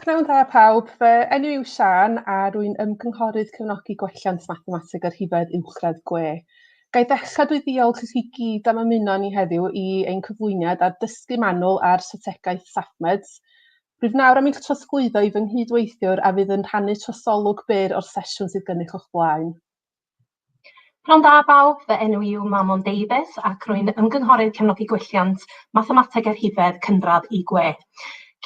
Pnawn da pawb, fy enw yw Sian a rwy'n ymgynghorydd cefnogi gwelliant mathemateg a rhifedd uwchradd gwe. Ga i ddechrau drwy ddiolch i chi gyd am ymuno â ni heddiw i ein cyflwyniad ar dysgu manwl ar strategaeth SAFMEDS. Rwyf nawr am eich trosglwyddo i fy nghyd-weithiwr a fydd yn rhannu trosolwg byr o'r sesiwn sydd gennych o'ch blaen. Pnawn da bawb, fy enw i yw Manon Davies ac rwy'n Ymgynghorydd Cefnogi Gwelliant Mathemateg a Rhifedd cynradd i gwe.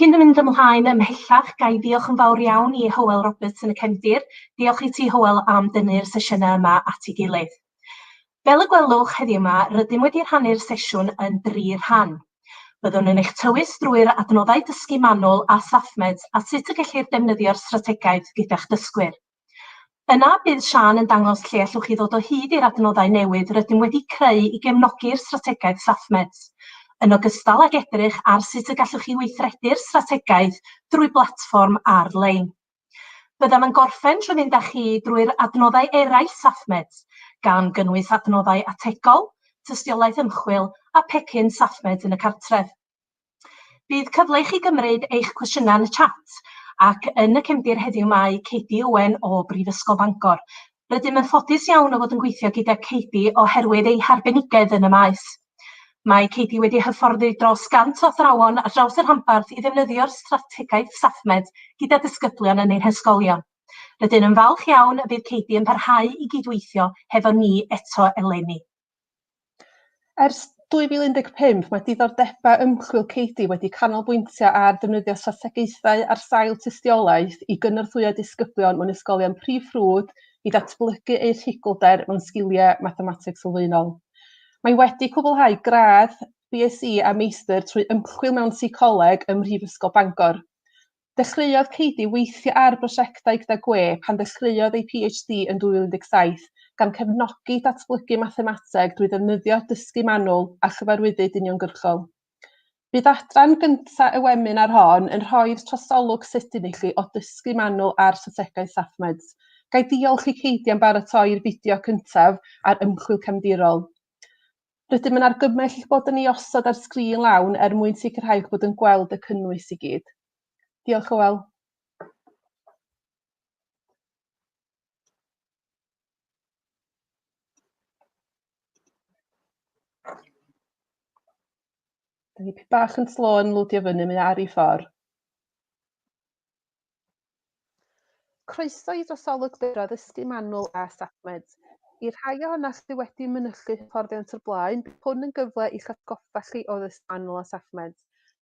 Cyn fy mynd ymlaen ymhellach, ga i ddiolch yn fawr iawn i Hywel Roberts yn y cefndir. Diolch i ti Hywel am dynnu'r sesiynau yma at ei gilydd. Fel y gwelwch heddiw yma, rydym wedi rhannu'r sesiwn yn dri rhan. Byddwn yn eich tywys drwy'r adnoddau dysgu manwl a SafeMeds a sut y gellir defnyddio'r strategaeth gyda'ch dysgwyr. Yna, bydd Siân yn dangos lle allwch chi ddod o hyd i'r adnoddau newydd rydym wedi creu i gefnogi'r strategaeth SafeMeds, yn ogystal ag edrych ar sut y gallwch chi weithredu'r strategaeth drwy blatfform ar-lein. Byddem yn gorffen trwy fynd â chi drwy'r adnoddau eraill SafeMeds, gan gynnwys adnoddau ategol, tystiolaeth ymchwil a pecyn SafeMeds yn y cartref. Bydd cyfle i chi gymryd eich cwestiynau yn y chat, ac yn y cefndir heddiw mae Katie Owen o Brifysgol Bangor. Rydym yn ffodus iawn o fod yn gweithio gyda Katie oherwydd ei harbenigedd yn y maes. Mae Katie wedi hyfforddi dros 100 o athrawon ar draws y rhanbarth i ddefnyddio'r strategaeth SAFMED gyda disgyblion yn ein hysgolion. Rydyn yn falch iawn y bydd Katie yn parhau i gydweithio hefo ni eto eleni. Ers 2015, mae diddordebau ymchwil Cady wedi canolbwyntio ar ddefnyddio strategaethau ar sail tystiolaeth i gynorthwyo disgyblion mewn ysgolion prif ffrwd i ddatblygu eu rhigolder mewn sgiliau mathemateg sylfaenol. Mae wedi cwblhau gradd BSc a Meistr trwy ymchwil mewn Seicoleg ym Mhrifysgol Bangor. Dechreuodd Katie weithio ar brosiectau gyda gwe pan ddechreuodd ei PhD yn 2017, gan cefnogi datblygu mathemateg drwy ddefnyddio dysgu manwl a chyfarwyddyd uniongyrchol. Bydd adran gyntaf y weminar hon yn rhoi'r trosolwg sydyn i chi o dysgu manwl ar strategaeth SafeMeds. Ga i ddiolch i Katie am baratoi'r fideo cyntaf ar ymchwil cefndirol. Rydym yn argymell eich bod yn ei osod ar sgrin lawn er mwyn sicrhau eich bod yn gweld y cynnwys i gyd. Diolch, Hywel. Da ni bach yn slo yn lwdio fyny, mae ar ei ffordd. Croeso i drosolwgfeydd addysgu manwl a SACMED. I'r rhai ohonoch sydd wedi mynychu hyfforddiant o'r blaen, bydd hwn yn gyfle i'ch atgoffa chi o ddysgu manwl a SACMED.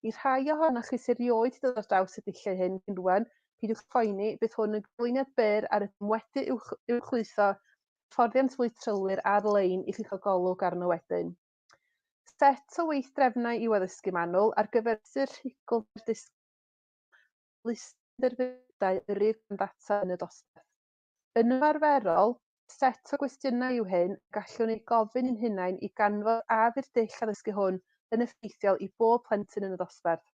I'r rhai ohonoch chi sy erioed 'di dod ar draws y dulliau hyn cyn rwan, peidiwch poeni, bydd hwn yn ganlyniad byr ar ydym wedi uwchlwytho hyfforddiant fwy trylwyr ar-lein i chi gael golwg arno wedyn. Set o weithdrefnau i'w addysgu manwl ar gyfer mesur rhugl neu'r disgybl. list o dderfynyddiadau yr ŷd gan ddata yn y dosbarth. Yn ymarferol, set o gwestiynau yw hyn y gallwn eu gofyn i'n hunain i ganfod a yw'r dull addysgu hwn yn effeithiol i bob plentyn yn y dosbarth.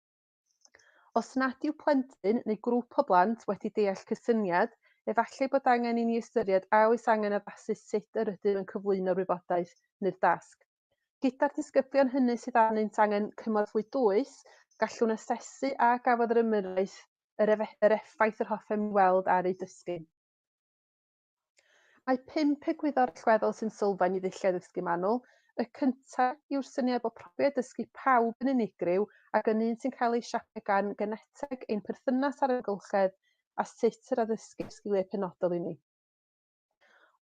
Os nad yw plentyn neu grŵp o blant wedi deall cysyniad, efallai bod angen i ni ystyried a oes angen addasu sut yr ydym yn cyflwyno'r wybodaeth neu'r dasg. Gyda'r disgyblion hynny sydd arnynt angen cymorth fwy dwys, gallwn asesu a gafodd yr ymyrraeth yr, efe, yr effaith yr hoffem ni weld ar eu dysgu. Mae pump egwyddor allweddol sy'n sylfaen i ddulliau ddysgu manwl. Y cyntaf yw'r syniad bod profiad dysgu pawb yn unigryw ac yn un sy'n cael ei siapio gan geneteg, ein perthynas â'r amgylchedd a sut yr addysgir sgiliau penodol i ni.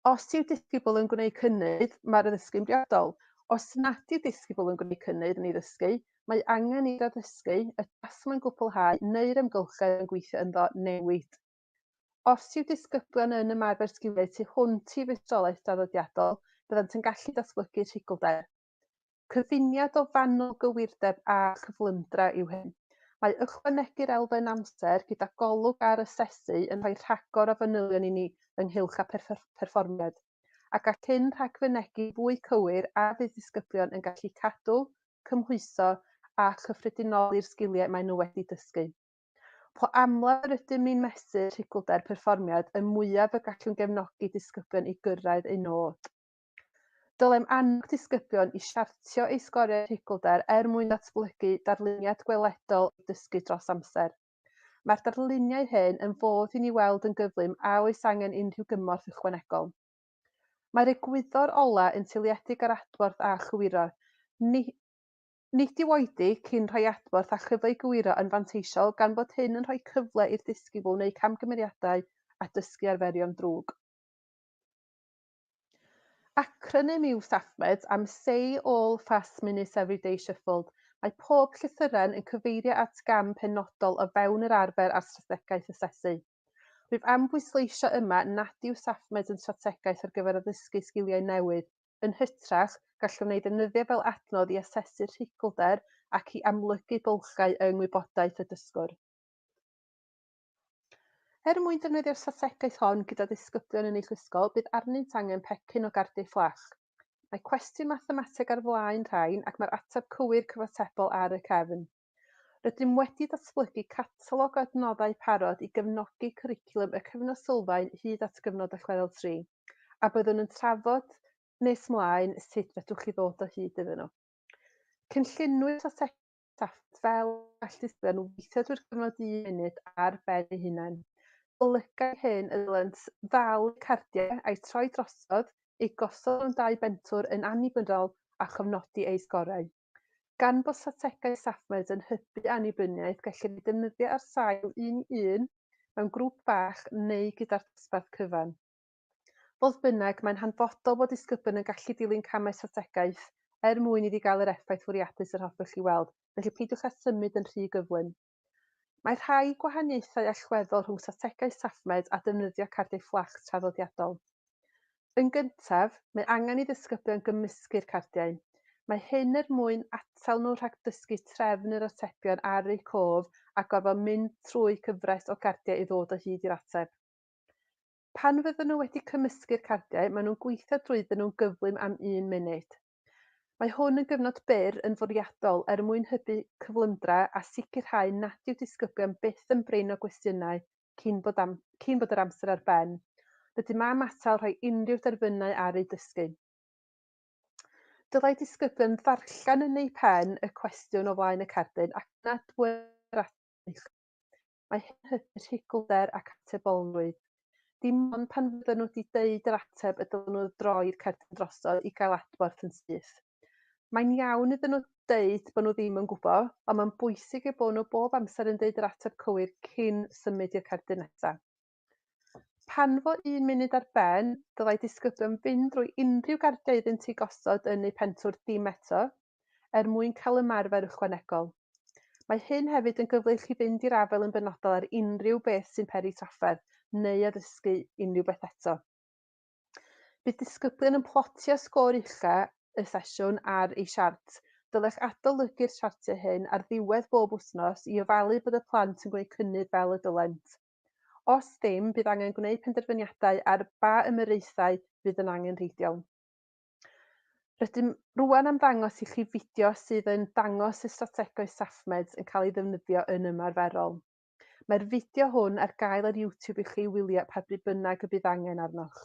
Os yw disgybl yn gwneud cynnydd, mae'r addysgu'n briodol. Os nad yw disgybl yn gwneud cynnydd yn ei ddysgu, mae angen i'r addysgu, y tasg mae'n gwblhau neu'r amgylchedd mae'n gweithio ynddo newid. Os yw disgyblion yn ymarfer sgiliau tu hwnt i feistrolaeth draddodiadol, byddant yn gallu datblygu rhigolder. Cyfuniad o fanwl gywirdeb a chyflymdra yw hyn. Mae ychwanegu'r elfen amser gyda golwg ar asesu yn rhoi rhagor o fanylion i ni ynghylch â pherfformiad, a gall hyn rhagfynegi fwy cywir a fydd disgyblion yn gallu cadw, cymhwyso a chyffredinoli'r sgiliau maen nhw wedi dysgu. Po amlaf yr ydym ni'n mesur rhigwlder perfformiad, y mwyaf y gallwn gefnogi disgyblion i gyrraedd eu nod. Dylem annog disgyblion i siartio eu sgoriau rhugl-dâr er mwyn datblygu darluniad gweledol o'r dysgu dros amser. Mae'r darluniau hyn yn fodd i ni weld yn gyflym a oes angen unrhyw gymorth ychwanegol. Mae'r egwyddor olau yn seiliedig ar adborth a chywiro. Ni, nid yw oedi cyn rhoi adborth a chyfle i gywiro yn fanteisiol gan fod hyn yn rhoi cyfle i'r disgybl wneud camgymeriadau a dysgu arferion drwg. Acronym yw SAFMED am Say All Fast Minutes Every Day Shuffled. Mae pob llythyren yn cyfeirio at gam penodol o fewn yr arfer a'r strategaeth asesu. Rwyf am bwysleisio yma nad yw SAFMED yn strategaeth ar gyfer addysgu sgiliau newydd, yn hytrach, gallwn ei ddefnyddio fel adnodd i asesu'r rhugl-der ac i amlygu bylchau yng ngwybodaeth y dysgwr. Er mwyn defnyddio'r strategaeth hon gyda disgyblion yn eich ysgol, bydd arnynt angen pecyn o gardiau fflach. Mae cwestiwn mathemateg ar flaen rhain ac mae'r ateb cywir cyfatebol ar y cefn. Rydym wedi datblygu catalog o adnoddau parod i gefnogi cwricwlwm y Cyfnod Sylfaen hyd at Gyfnod Allweddol Tri, a byddwn yn trafod nes mlaen sut fedrwch chi ddod o hyd iddyn nhw. Cynlluniwyd strategaeth staff fel gall dyddiau nhw weithio drwy'r cyfnod un munud ar ben eu hunain. Golygai hyn y dylent ddal eu cardiau a'u troi drosodd, eu gosod mewn dau bentwr yn annibynnol a chofnodi eu sgorau. Gan bod strategaeth StaffMed yn hybu annibyniaeth, gellir ei defnyddio ar sail un i un, mewn grŵp bach neu gyda'r dosbarth cyfan. Fodd bynnag, mae'n hanfodol bod disgybl yn gallu dilyn camau strategaeth er mwyn iddi gael yr effaith fwriadus yr hoffech chi weld, felly peidiwch â symud yn rhy gyflym. Mae rhai gwahaniaethau allweddol rhwng strategaeth SafeMed a defnyddio cardiau fflach traddodiadol. Yn gyntaf, mae angen i ddisgyblion gymysgu'r cardiau. Mae hyn er mwyn atal nhw rhag dysgu trefn yr atebion ar eu cof a gorfod mynd trwy gyfres o gardiau i ddod o hyd i'r ateb. Pan fyddan nhw wedi cymysgu'r cardiau, maen nhw'n gweithio drwyddyn nhw'n gyflym am un munud. Mae hwn yn gyfnod byr yn fwriadol er mwyn hybu cyflymdra a sicrhau nad yw disgyblion byth yn brin o gwestiynau cyn bod am cyn bod yr amser ar ben. Rydym am atal rhoi unrhyw derfynau ar eu dysgu. Dylai disgyblion ddarllen yn eu pen y cwestiwn o flaen y cardyn ac nad wyr mae hyn yn hybu rhugl-der ac atebolrwydd. Dim ond pan fydden nhw wedi deud yr ateb y dylen nhw droi'r cerdyn drosodd i gael adborth yn syth. Mae'n iawn iddyn nhw deud bod nhw ddim yn gwybod, ond mae'n bwysig eu bod nhw bob amser yn deud yr ateb cywir cyn symud i'r cerdyn nesaf. Pan fo un munud ar ben, dylai disgyblion fynd drwy unrhyw gardiau iddynt eu gosod yn eu pentwr dim eto, er mwyn cael ymarfer ychwanegol. Mae hyn hefyd yn gyfle i chi fynd i'r afael yn benodol ar unrhyw beth sy'n peri trafferth neu addysgu unrhyw beth eto. Bydd disgyblion yn plotio sgôr ucha y sesiwn ar eu siart. Dylech adolygu'r siartiau hyn ar ddiwedd bob wythnos i ofalu bod y plant yn gwneud cynnydd fel y dylent. Os ddim, bydd angen gwneud penderfyniadau ar ba ymyraethau fydd yn angenrheidiol. Rydym rwan am ddangos i chi fideo sydd yn dangos sut strategoedd SafeMeds yn cael ei ddefnyddio yn ymarferol. Mae'r fideo hwn ar gael ar YouTube i chi wylio pa bryd bynnag y bydd angen arnoch.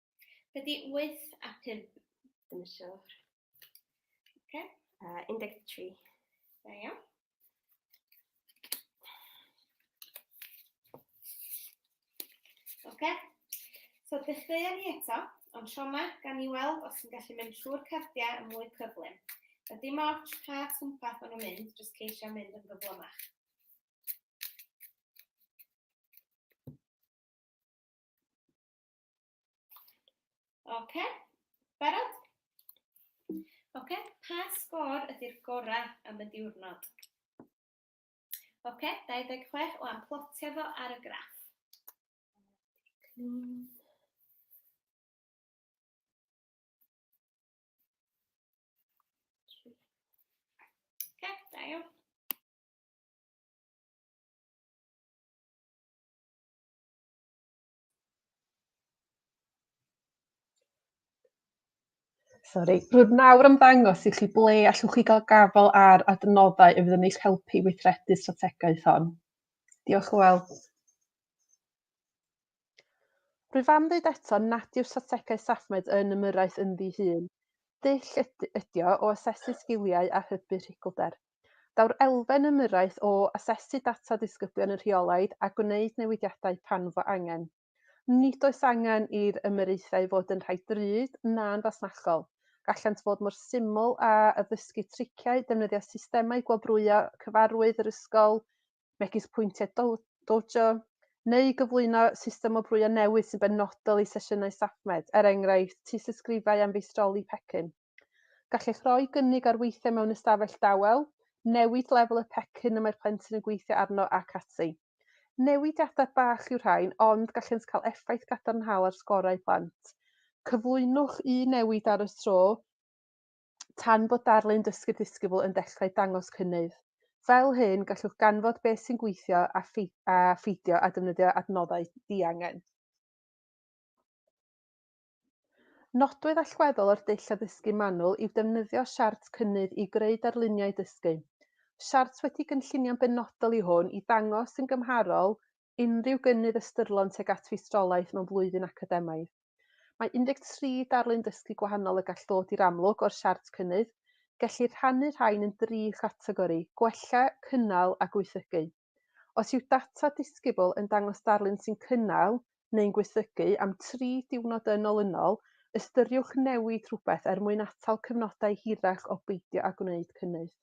Dydy 8 a 5 ddim yn siwr. Oce. A 13. Da iawn. Oce. So dechreuon ni eto, ond tro yma gan ni weld os yn gallu mynd trwy'r cardiau yn mwy cyflym. A dim ots pa twmpath o'n nhw'n mynd, jyst ceisio mynd yn gyflymach. Oce, okay. barod? Oce, okay. pa sgôr ydy'r gorau am y diwrnod? Oce, okay. 26 o amplotio fo ar y graff. Clean. Gael. Sori. Rwyf nawr am ddangos i chi ble allwch chi gael gafael ar adnoddau y fydd yn eich helpu i weithredu'r strategaeth hon. Diolch o weld. Rwyf am ddweud eto nad yw strategaeth SAFMED yn ymyrraeth ynddi hun. Dull ydi o o asesu sgiliau a hybu rhugylder. Daw'r elfen ymyrraeth o asesu data disgyblion yn rheolaidd a gwneud newidiadau pan fo angen. Nid oes angen i'r ymyraethau fod yn rhai drud na'n fasnachol, gallant fod mor syml â addysgu triciau, defnyddio systemau gwobrwyo cyfarwydd yr ysgol, megis pwyntiau Dojo, neu gyflwyno system o brwyo newydd sy'n benodol i sesiynau StaffMed, er enghraifft, tystysgrifau am feistroli pecyn. Gallech roi gynnig ar weithiau mewn ystafell dawel, newid lefel y pecyn y mae'r plentyn yn gweithio arno ac ati. Newidiadau bach yw'r rhain, ond gallant cael effaith gadarnhaol ar sgorau plant. Cyflwynwch un newid ar y tro, tan bod darlun dysgu'r disgybl yn dechrau dangos cynnydd. Fel hyn, gallwch ganfod beth sy'n gweithio a, a pheidio a defnyddio adnoddau diangen. Nodwedd allweddol o'r dull addysgu manwl yw defnyddio siart cynnydd i greu darluniau dysgu. Siart wedi gynllunio'n benodol yw hwn i ddangos yn gymharol unrhyw gynnydd ystyrlon tuag at feistrolaeth mewn blwyddyn academaidd. Mae 13 darlun dysgu gwahanol y gall ddod i'r amlwg o'r siart cynnydd. Gellir rhannu'r rhain yn dri chategori, gwella, cynnal a gwaethygu. Os yw data disgybl yn dangos darlun sy'n cynnal neu'n gwaethygu am tri diwrnod yn olynol, ystyriwch newid rhywbeth er mwyn atal cyfnodau hirach o beidio â gwneud cynnydd.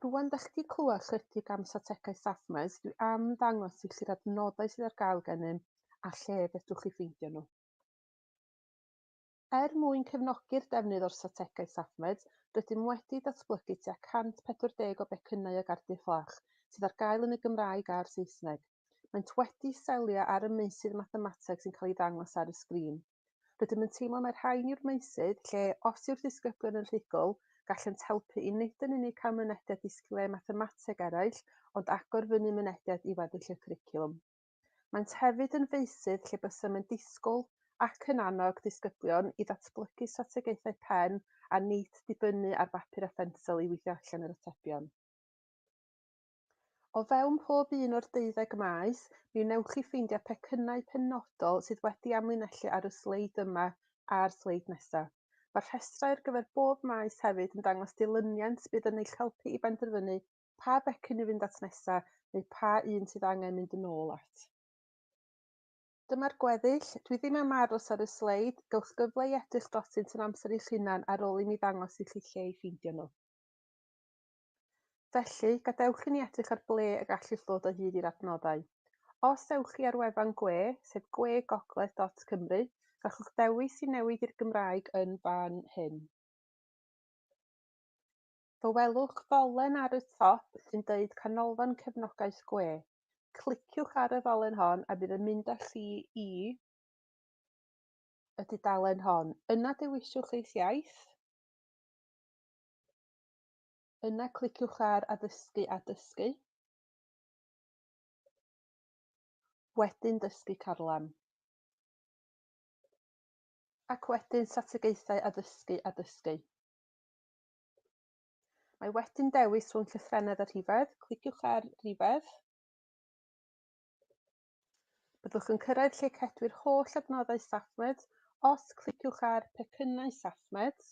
Rwan da chi wedi clywed chydig am strategau Safmaes, dwi am ddangos i chi'r adnoddau sydd ar gael gennym a lle fedrwch chi ffeindio nhw. Er mwyn cefnogi'r defnydd o'r strategaeth SafeMed, rydym wedi datblygu tua 140 o becynnau ag ardyll fach, sydd ar gael yn y Gymraeg a'r Saesneg. Maent wedi selio ar y meysydd mathemateg sy'n cael ei ddangos ar y sgrin. Rydym yn teimlo mai'r rhain yw'r meysydd lle, os yw'r disgyblion yn rhugl, gallant helpu i nid yn unig cael mynediad i sgiliau mathemateg eraill, ond agor fyny mynediad i weddill y cwricwlwm. Maent hefyd yn feysydd lle bysem yn disgwyl ac yn annog disgyblion i ddatblygu strategaethau pen a nid dibynnu ar bapur a phensel i weithio allan yr atebion. O fewn pob un o'r deuddeg maes, mi wnewch chi ffeindio pecynnau penodol sydd wedi amlinellu ar y sleid yma a'r sleid nesaf. Mae'r rhestrau ar gyfer bob maes hefyd yn dangos dilyniant bydd yn eich helpu i benderfynu pa becyn i fynd at nesa neu pa un sydd angen mynd yn ôl at. Dyma'r gweddill. Dwi ddim am aros ar y sleid. Gywch gyfle i edrych drotynt yn amser eich hunan ar ôl i mi ddangos i chi lle i ffeindio nhw. Felly, gadewch i ni edrych ar ble y gallwch ddod o hyd i'r adnoddau. Os ewch chi ar wefan gwe, sef gwegogledd.cymru, gallwch ddewis i newid i'r Gymraeg yn fan hyn. Fe welwch ddolen ar y top sy'n deud Canolfan Cefnogaeth Gwe. Cliciwch ar y ddolen hon a bydd yn mynd â chi i y dudalen hon. Yna dewisiwch eich iaith. Yna cliciwch ar Addysgu a Dysgu. wedyn dysgu carlam, ac wedyn strategaethau addysgu a dysgu. Mae wedyn dewis rhwng llythrennedd a rhifedd. Cliciwch ar rhifedd. Byddwch yn cyrraedd lle cedwir holl adnoddau SafeMed os cliciwch ar pecynnau SafeMed.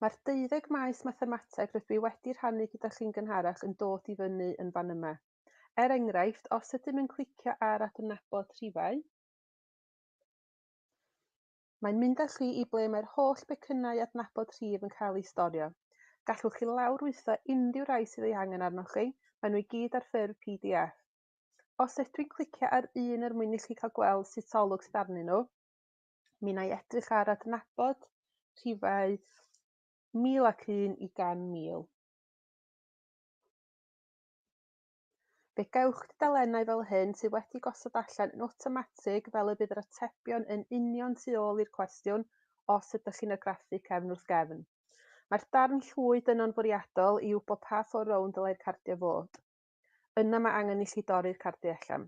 Mae'r 12 maes mathemateg rydw i wedi rhannu gyda chi'n gynharach yn dod i fyny yn fan yma. Er enghraifft, os ydym yn clicio ar adnabod rhifau, Mae'n mynd â chi i ble mae'r holl becynnau adnabod rhif yn cael eu storio. Gallwch chi lawrlwytho unrhyw rai sydd ei angen arnoch chi, maen nhw i gyd ar ffurf pdf. Os ydw i'n clicio ar un er mwyn i chi cael gweld sut olwg sydd arnyn nhw, mi wna i edrych ar adnabod rhifau 1001 i 100,000. Fe gewch dudalennau fel hyn sydd wedi gosod allan yn awtomatig fel y bydd yr atebion yn union tu ôl i'r cwestiwn os ydych chi'n argraffu cefn wrth gefn. Mae'r darn llwyd yno'n fwriadol i wybod pa ffordd rownd ddylai'r cardiau fod. Yna mae angen i chi dorri'r cardiau allan.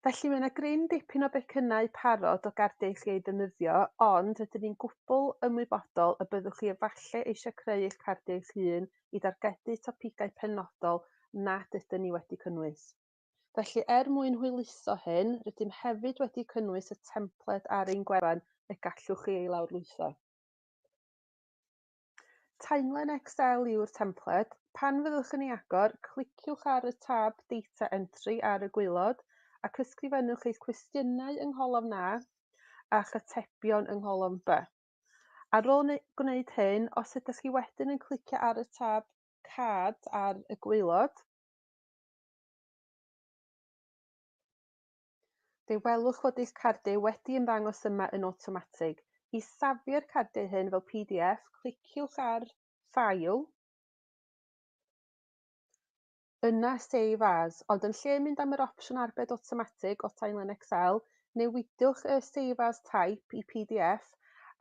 Felly mae 'na gryn dipyn o becynnau parod o gardiau chi eu defnyddio, ond rydyn ni'n gwbl ymwybodol y byddwch chi efallai eisiau creu eich cardiau eich hun i dargedu topigau penodol nad ydyn ni wedi cynnwys. Felly, er mwyn hwyluso hyn, rydym hefyd wedi cynnwys y templed ar ein gwefan y gallwch chi ei lawrlwytho. Timeline Excel yw'r templed. Pan fyddwch yn ei agor, cliciwch ar y tab Data Entry ar y gwaelod ac ysgrifennwch eich cwestiynau yng ngholofn A a'ch atebion yng ngholofn B. Ar ôl gwneud hyn, os ydych chi wedyn yn clicio ar y tab Card ar y gwaelod, Fe welwch fod eich cardiau wedi ymddangos yma yn awtomatig. I safio'r cardiau hyn fel pdf, cliciwch ar File, yna Save As, ond yn lle mynd am yr opsiwn Arbed Awtomatig o Timeline Excel, newidiwch y Save As Type i pdf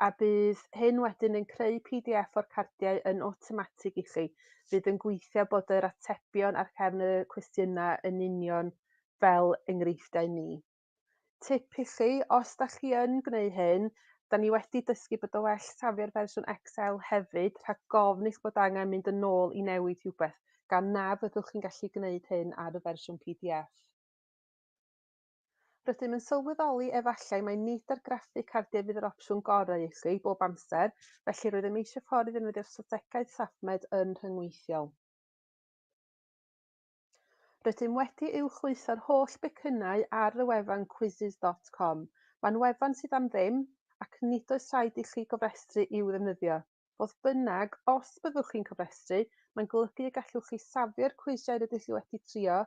a bydd hyn wedyn yn creu pdf o'r cardiau yn awtomatig i chi. Bydd yn gweithio bod yr atebion ar gefn y cwestiynau yn union fel enghreifftiau ni. Tip i chi, os da chi yn gwneud hyn, da ni wedi dysgu bod o well safio'r fersiwn Excel hefyd rhag gofn eich bod angen mynd yn ôl i newid rhywbeth, gan na fyddwch chi'n gallu gwneud hyn ar y fersiwn pdf. Rydym yn sylweddoli efallai mai nid argraffu cardiau fydd yr opsiwn gorau i chi bob amser, felly rydym eisiau ffordd i ddefnyddio'r strategaeth SafeMed yn rhyngweithiol. Rydym wedi uwchlwytho'r holl becynnau ar y wefan Quizizz dot com. Mae'n wefan sydd am ddim, ac nid oes rhaid i chi gofrestru i'w ddefnyddio. Fodd bynnag, os byddwch chi'n cofrestru, mae'n golygu y gallwch chi safio'r cwisiau rydych chi wedi trio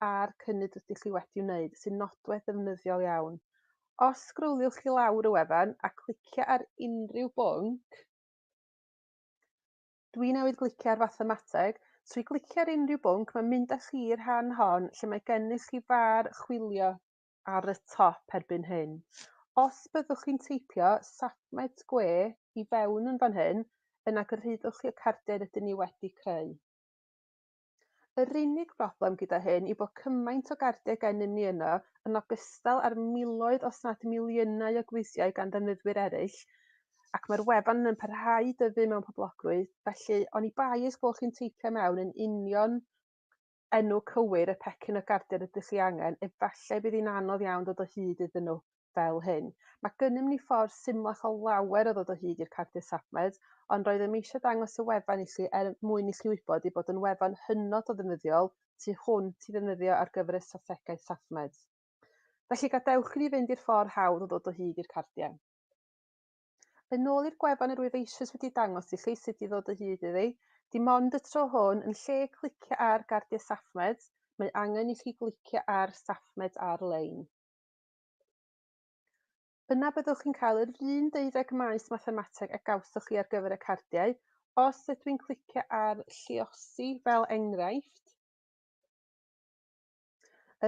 a'r cynnydd rydych chi wedi wneud, sy'n nodwedd ddefnyddiol iawn. Os sgrowliwch i lawr y wefan a clicio ar unrhyw bwnc, Dwi newydd glicio ar fathemateg. Trwy glicio ar unrhyw bwnc, mae'n mynd â chi i'r rhan hon lle mae gennych chi far chwilio ar y top erbyn hyn. Os byddwch chi'n teipio safmet gwe i fewn yn fan hyn, yna gyrhaeddwch chi y cardiau rydyn ni wedi creu. Yr unig broblem gyda hyn yw bod cymaint o gardiau gennym ni yno, yn ogystal â'r miloedd os nad miliynau o gwisiau gan ddefnyddwyr eraill, ac mae'r wefan yn parhau i dyfu mewn poblogrwydd, felly oni bai eich bod chi'n teipio mewn yn union enw cywir y pecyn o gardiau rydych chi angen, efallai bydd hi'n anodd iawn dod o hyd iddyn nhw. fel hyn. Mae gennym ni ffordd symlach o lawer o ddod o hyd i'r cardiau safled, ond roeddem eisiau dangos y wefan i chi er mwyn i chi wybod ei bod yn wefan hynod o ddefnyddiol tu hwnt i ddefnyddio ar gyfer y strategaeth safled. Felly gadewch i ni fynd i'r ffordd hawdd o ddod o hyd i'r cardiau. Yn ôl i'r gwefan yr wyf eisoes wedi dangos i chi sut i ddod o hyd iddi, dim ond y tro hwn, yn lle clicio ar Gardiau Safled, mae angen i chi glicio ar Safled ar-lein. Yna byddwch chi'n cael yr un deuddeg maes mathemateg a gawsoch chi ar gyfer y cardiau. Os ydw i'n clicio ar lliosi fel enghraifft,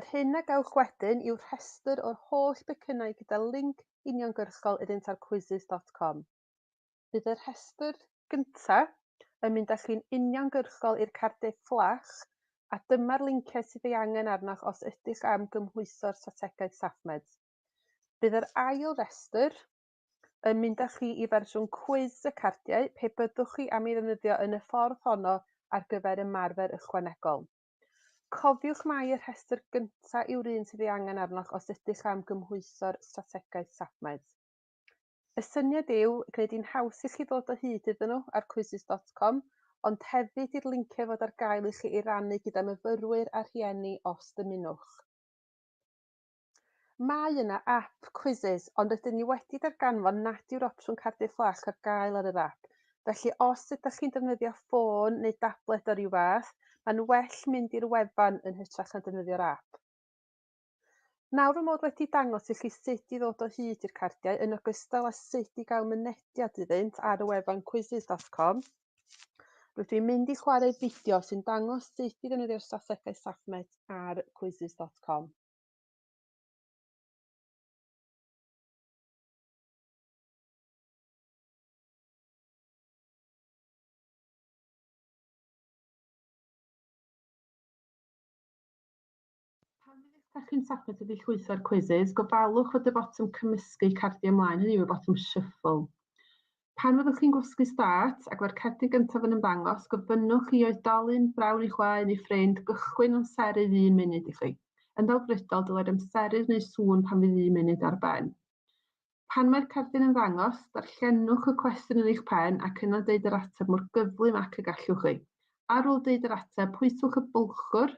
yr hyn a gawch wedyn yw rhestr o'r holl becynnau gyda linc uniongyrchol iddynt ar quizzes.com. Bydd y rhestr gyntaf yn mynd â chi'n uniongyrchol i'r cardiau fflach, a dyma'r linciau sydd ei angen arnoch os ydych am gymhwyso'r strategaeth SafeMed. Bydd yr ail restr yn mynd â chi i fersiwn cwis y cardiau pe byddwch chi am ei ddefnyddio yn y ffordd honno ar gyfer ymarfer ychwanegol. Cofiwch mai y rhestr gyntaf yw'r un sydd ei angen arnoch os ydych am gymhwyso'r strategaeth SafeMed. Y syniad yw gwneud hi'n haws i chi ddod o hyd iddyn nhw ar Quizzes dot com, ond hefyd i'r linciau fod ar gael i chi ei rannu gyda myfyrwyr a rhieni os dymunwch. Mae yna ap, Quizzes, ond rydyn ni wedi darganfod nad yw'r opsiwn cardiau fflach ar gael ar yr ap, felly os ydych chi'n defnyddio ffôn neu dabled o ryw fath, mae'n well mynd i'r wefan yn hytrach na defnyddio'r ap. Nawr fy mod wedi dangos i chi sut i ddod o hyd i'r cardiau yn ogystal â sut i gael mynediad iddynt ar y wefan quizzes.com, rydw i'n mynd i chwarae fideo sy'n dangos sut i ddefnyddio'r strategaeth SAFMET ar quizzes.com. Pan ydych chi'n tapio tydi llwytho'r quizzes, gofalwch fod y botwm cymysgu cardiau ymlaen, hynny yw y botwm shuffle. Pan fyddwch chi'n gwasgu start ac mae'r cerdyn gyntaf yn ymddangos, gofynnwch i oedolyn, brawd neu chwaer neu ffrind, gychwyn amseru un munud i chi. Yn ddelfrydol, dylai'r amseru wneud sŵn pan fydd un munud ar ben. Pan mae'r cerdyn yn ddangos, darllenwch y cwestiwn yn eich pen ac yna deud yr ateb mor gyflym ac y gallwch chi. Ar ôl deud yr ateb, pwytwch y bwlchwr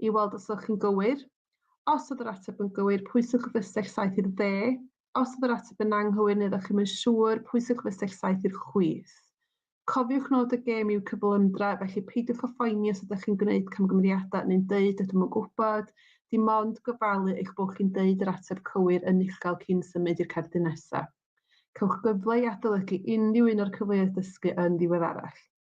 i weld os ydych chi'n gywir. Os oedd yr ateb yn gywir, pwyswch y fystell saith i'r dde. Os oedd yr ateb yn anghywir neu ydych chi'n yn siŵr, pwyswch y fystell saith i'r chwith. Cofiwch nod y gêm yw cyflymdra, felly peidiwch â phoeni os ydych chi'n gwneud camgymeriadau neu'n dweud ydym yn gwybod, dim ond gofalu eich bod chi'n dweud yr ateb cywir yn uchel cyn symud i'r cerdyn nesaf. Cewch gyfle i adolygu unrhyw un o'r cyfleoedd dysgu yn ddiweddarach.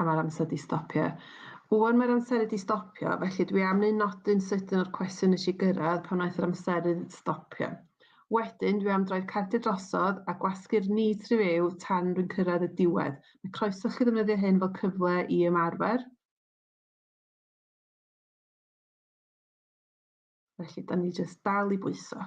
A mae'r amser di stopio. Wan mae'r amseru di stopio, felly dwi am neu nodyn sydyn o'r cwestiwn nes i gyrraedd pan wnaeth yr amseru stopio. Wedyn, dwi am droi'r cardiau drosodd a gwasgu'r ni tri fyw tan rwy'n cyrraedd y diwedd. Mae croeso chi ddefnyddio hyn fel cyfle i ymarfer. Felly, da ni jyst dal i bwyso.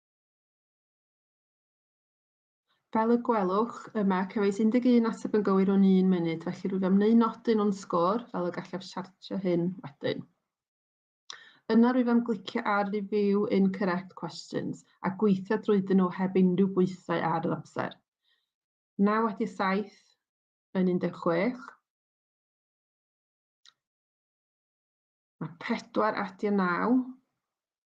Fel y gwelwch yma, cefais 11 ateb yn gywir o'n un munud, felly rwyf am wneud nodyn o'n sgôr fel y gallaf siartio hyn wedyn. Yna rwyf am glicio ar Review Incorrect Questions a gweithio drwyddyn nhw heb unrhyw bwysau ar yr amser. 9 wedi 7 yn 16. Mae 4 adio 9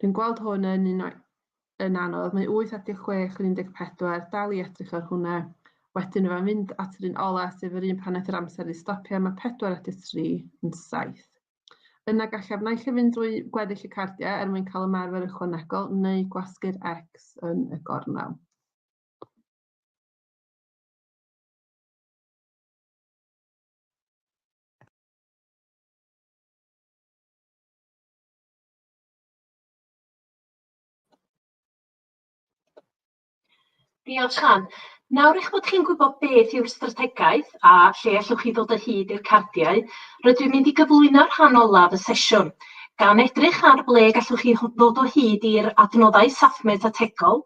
Dwi'n gweld hwn yn un o'i yn anodd. Mae 8 at 6 yn 14, dal i edrych ar hwnna. Wedyn mae'n mynd at yr un ola, sef yr un pan aeth yr amser i stopio, mae 4 at 3 yn 7. Yna gallaf naill ai fynd drwy gweddill y cardiau er mwyn cael ymarfer ychwanegol neu gwasgu'r X yn y gornel. Diolch, Siân. Nawr eich bod chi'n gwybod beth yw'r strategaeth a lle allwch chi ddod o hyd i'r cardiau, rydw i'n mynd i gyflwyno rhan olaf y sesiwn, gan edrych ar ble gallwch chi ddod o hyd i'r adnoddau SAFMET ategol,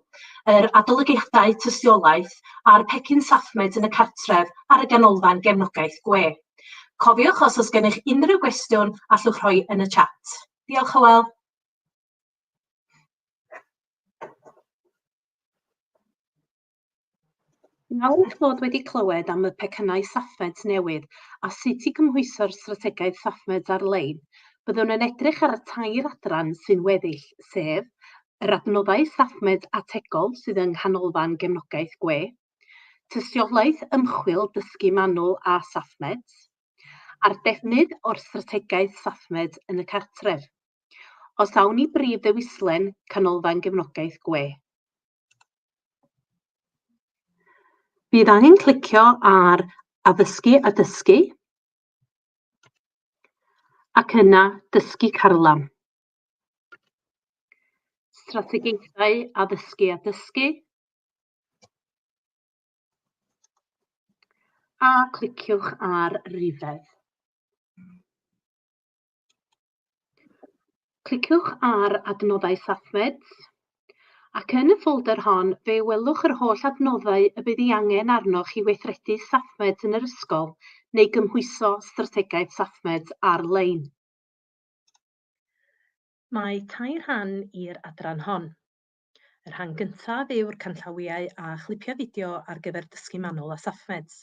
yr adolygiadau tystiolaeth a'r pecyn SAFMET yn y cartref ar y ganolfan gefnogaeth gwe. Cofiwch os oes gennych unrhyw gwestiwn allwch rhoi yn y chat. Diolch Hywel. Nawr eich bod wedi clywed am y pecynnau SAFMEDS newydd a sut i gymhwyso'r strategaeth SAFMEDS ar-lein, byddwn yn edrych ar y tair adran sy'n weddill, sef yr adnoddau SAFMEDS ategol sydd yng Nghanolfan Gefnogaeth Gwe, tystiolaeth ymchwil dysgu manwl a SafeMeds, a'r defnydd o'r strategaeth SafeMeds yn y cartref. Os awn i brif ddewislen Canolfan Gefnogaeth Gwe. Bydd angen clicio ar Addysgu a Dysgu ac yna Dysgu Carlam. Strategaethau Addysgu a Dysgu A cliciwch ar Rifedd. Cliciwch ar Adnoddau SafeMeds ac yn y ffolder hon fe welwch yr holl adnoddau y bydd ei angen arnoch i weithredu SafeMeds yn yr ysgol neu gymhwyso strategaeth SafeMeds ar-lein. Mae tair rhan i'r adran hon. Y rhan gyntaf yw'r canllawiau a chlipiau fideo ar gyfer dysgu manwl a SafeMeds.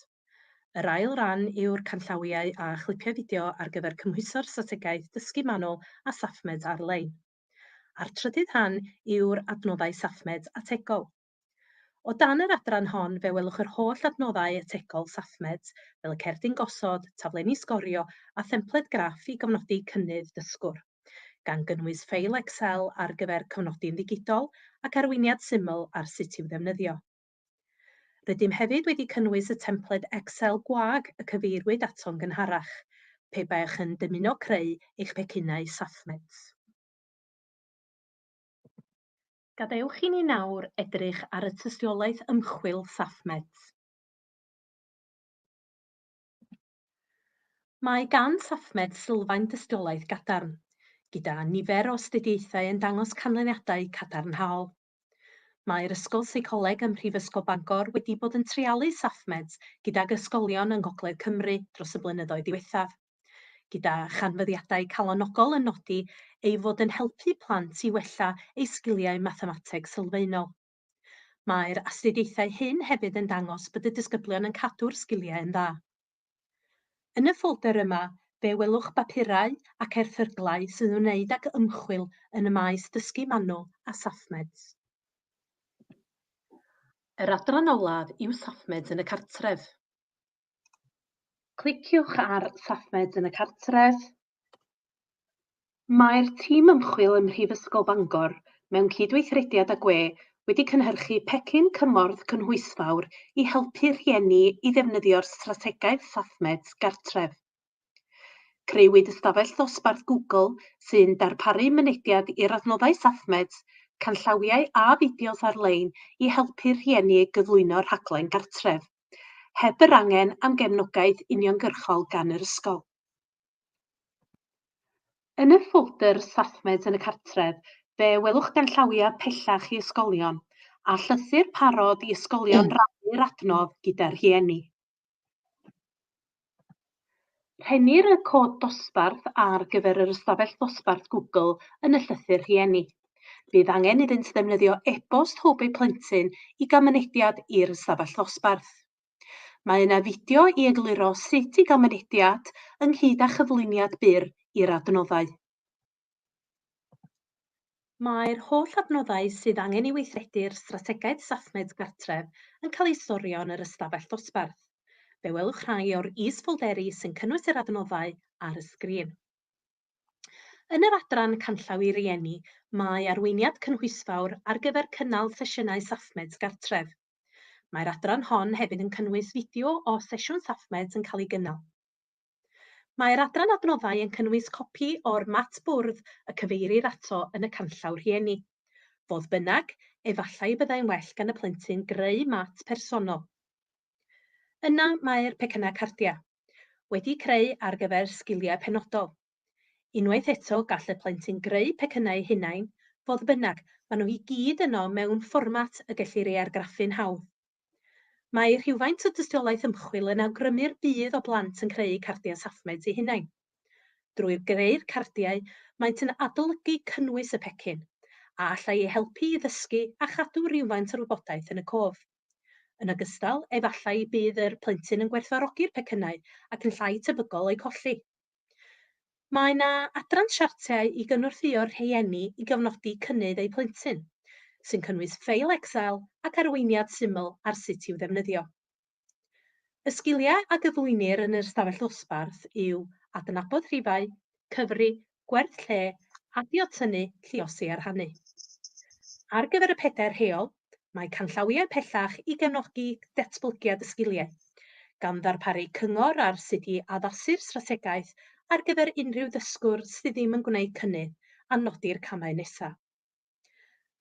Yr ail ran yw'r canllawiau a chlipiau fideo ar gyfer cymhwyso'r strategaeth dysgu manwl a SafeMeds ar-lein. A'r trydydd rhan yw'r adnoddau SafeMeds ategol. O dan yr adran hon fe welwch yr holl adnoddau ategol SafeMeds fel y cerdyn gosod, taflenni sgorio a thempled graff i gofnodi cynnydd dysgwr. gan gynnwys ffeil Excel ar gyfer cofnodi'n ddigidol ac arweiniad syml ar sut i'w ddefnyddio. Rydym hefyd wedi cynnwys y templed Excel gwag y cyfeiriwyd ato'n gynharach, pe baech yn dymuno creu eich pecynnau SafeMet. Gadewch i ni nawr edrych ar y tystiolaeth ymchwil SafeMet. Mae gan SAFMED sylfaen dystiolaeth gadarn, gyda nifer o astudiaethau yn dangos canlyniadau cadarnhaol. Mae'r Ysgol Seicoleg ym Mhrifysgol Bangor wedi bod yn treialu SAFMEDs gydag ysgolion yng Ngogledd Cymru dros y blynyddoedd diwethaf, gyda chanfyddiadau calonogol yn nodi ei fod yn helpu plant i wella eu sgiliau mathemateg sylfaenol. Mae'r astudiaethau hyn hefyd yn dangos bod y disgyblion yn cadw'r sgiliau yn dda. Yn y ffolder yma, fe welwch bapurau ac erthyglau sy'n ymwneud ag ymchwil yn y maes dysgu manwl a SafeMeds. Yr adran olaf yw SafeMeds yn y cartref. Cliciwch ar Safmed yn y Cartref. Mae'r tîm ymchwil ym Mhrifysgol Bangor, mewn cydweithrediad â gwe, wedi cynhyrchu pecyn cymorth cynhwysfawr i helpu rhieni i ddefnyddio'r strategaeth Safmed Gartref. Crëwyd ystafell ddosbarth Google sy'n darparu mynediad i'r adnoddau Safmed, canllawiau a fideos ar-lein i helpu rhieni gyflwyno rhaglen gartref. heb yr angen am gefnogaeth uniongyrchol gan yr ysgol. Yn y ffoldr 'Staffmed yn y Cartref', fe welwch ganllawiau pellach i ysgolion, a llythyr parod i ysgolion rannu'r adnodd gyda rhieni. Rhennir y cod dosbarth ar gyfer yr ystafell ddosbarth Google yn y llythyr rhieni. Bydd angen iddynt ddefnyddio e-bost hwb eu plentyn i gael mynediad i'r ystafell ddosbarth. Mae yna fideo i egluro sut i gael mynediad, ynghyd â chyflwyniad byr i'r adnoddau. Mae'r holl adnoddau sydd angen i weithredu'r Strategaeth Sathnaidd Gartref yn cael eu storio yn yr ystafell ddosbarth. Fe welwch rhai o'r is-ffolderi sy'n cynnwys yr adnoddau ar y sgrin. Yn yr adran Canllaw i Rieni, mae arweiniad cynhwysfawr ar gyfer cynnal sesiynau Safmeds gartref. Mae'r adran hon hefyd yn cynnwys fideo o sesiwn Safmeds yn cael ei gynnal. Mae'r adran adnoddau yn cynnwys copi o'r mat bwrdd y cyfeirir ato yn y canllaw rhieni. Fodd bynnag, efallai y byddai'n well gan y plentyn greu mat personol. Yna mae'r pecynnau cardiau, wedi'u creu ar gyfer sgiliau penodol. Unwaith eto, gall y plentyn greu pecynnau eu hunain, fodd bynnag, maen nhw i gyd yno mewn fformat y gellir ei argraffu'n hawdd. Mae rhywfaint o dystiolaeth ymchwil yn awgrymu'r bydd o blant yn creu cardiau Safmed eu hunain. Drwy greu'r cardiau, maent yn adolygu cynnwys y pecyn, a allai eu helpu i ddysgu a chadw rywfaint o'r wybodaeth yn y cof. Yn ogystal, efallai y bydd yr plentyn yn gwerthfawrogi'r pecynnau ac yn llai tebygol o'u colli. Mae yna adran siartiau i gynorthwyo'r rhieni i gofnodi cynnydd eu plentyn, sy'n cynnwys ffeil Excel ac arweiniad syml ar sut i'w ddefnyddio. Y sgiliau a gyflwynir yn yr ystafell ddosbarth yw adnabod rhifau, cyfri, gwerth lle, adio tynnu, lliosi a rhannu. Ar gyfer y pedair rheol, Mae canllawiau pellach i gefnogi datblygiad y sgiliau, gan ddarparu cyngor ar sut i addasu'r strategaeth ar gyfer unrhyw ddysgwr sydd ddim yn gwneud cynnydd a nodi'r camau nesaf.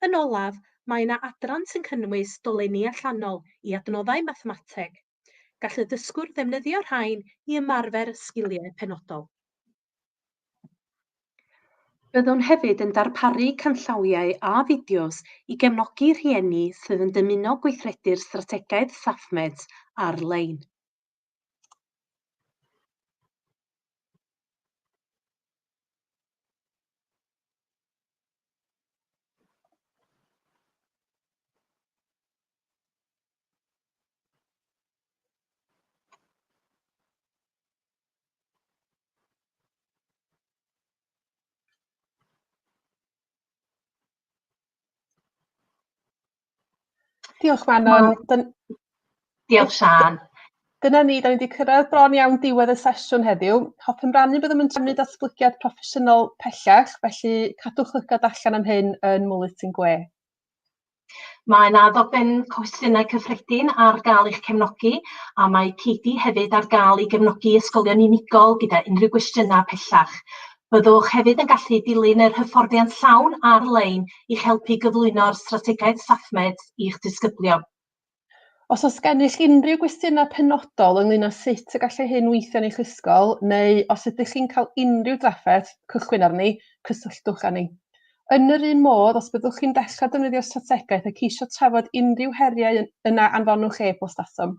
Yn olaf, mae yna adran sy'n cynnwys dolenni allanol i adnoddau mathemateg, Gall y dysgwr ddefnyddio rhain i ymarfer sgiliau penodol. Byddwn hefyd yn darparu canllawiau a fideos i gefnogi rhieni sydd yn dymuno gweithredu'r strategaeth SafeMeds ar-lein. Diolch Manon. Dyn... Diolch Sian. Dyna ni, da ni wedi cyrraedd bron iawn diwedd y sesiwn heddiw. Hoffem rannu byddwn yn trefnu datblygiad proffesiynol pellach, felly cadwch lygad allan am hyn yn Mwylyt yn Gwe. Mae 'na ddogfen cwestiynau cyffredin ar gael i'ch cefnogi a mae Katie hefyd ar gael i gefnogi ysgolion unigol gyda unrhyw gwestiynau pellach. Byddwch hefyd yn gallu dilyn yr hyfforddiant llawn ar-lein i'ch helpu i gyflwyno'r strategaeth StaffMed i'ch disgyblion. Os oes gennych unrhyw gwestiynau penodol ynglyn â sut y gallai hyn weithio yn eich ysgol, neu os ydych chi'n cael unrhyw drafferth cychwyn arni, cysylltwch â ni. Yn yr un modd, os byddwch chi'n dechrau defnyddio'r strategaeth a ceisio trafod unrhyw heriau yna anfonwch e-bost atom.